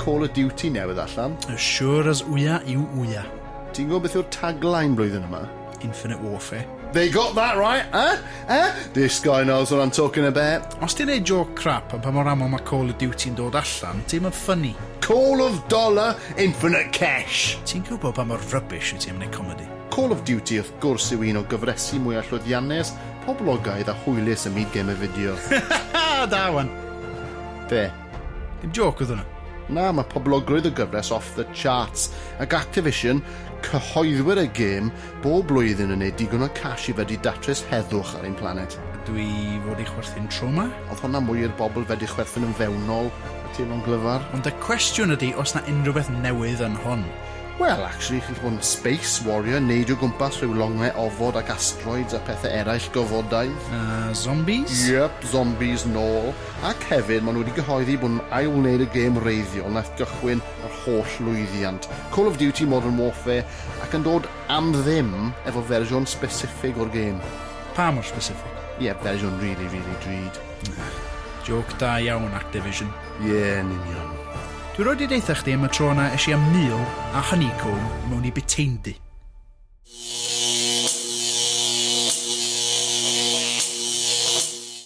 Call of Duty newydd allan. As sure as Ouya yw Ouya. Ti'n gwybod beth yw'r tagline blwyddyn yma? Infinite Warfare. They got that right, eh? Eh? This guy knows what I'm talking about. Os ti'n neud joke crap am pa mor aml mae Call of Duty yn dod allan, ti'm yn funny. Call of Dollar Infinite Cash! Ti'n gwybod pa mor rubbish wyt ti am neud comedi? Call of Duty wrth gwrs yw un o gyfresi mwyaf llwyddiannus poblogaidd a hwylus ym myd gemau fideo. Da wan! Be? Dim jôc oedd hwnna. Na, mae poblogrwydd y gyfres off the charts, ac Activision, cyhoeddwyr y gêm, bob blwyddyn yn neud digon o cash i fedru datrys heddwch ar ein planet. Ydw i fod i chwerthin tro ma? Oedd hwnna mwy i'r bobl fedru chwerthin yn fewnol, y teimlo'n glyfar. Ond y cwestiwn ydi os 'na unrhyw beth newydd yn hwn. Wel, actually, chi'n gallu bod yn space warrior, neidio o gwmpas rhyw longle ofod ac asteroids a pethau eraill gofodau. A zombies? Yep, zombies nôl. Ac hefyd, maen nhw wedi cyhoeddi bod nhw'n ail-wneud y gêm wreiddiol wnaeth gychwyn yr holl lwyddiant, Call of Duty Modern Warfare, ac yn dod am ddim efo fersiwn specific o'r gêm. Pa mor specific? Ie, fersiwn rili, rili drud. Jôc da iawn, Activision. Ie, yn union. Dwi rioed di deutha chdi am y tro na esh i am meal a honeycomb mewn i bytaindy.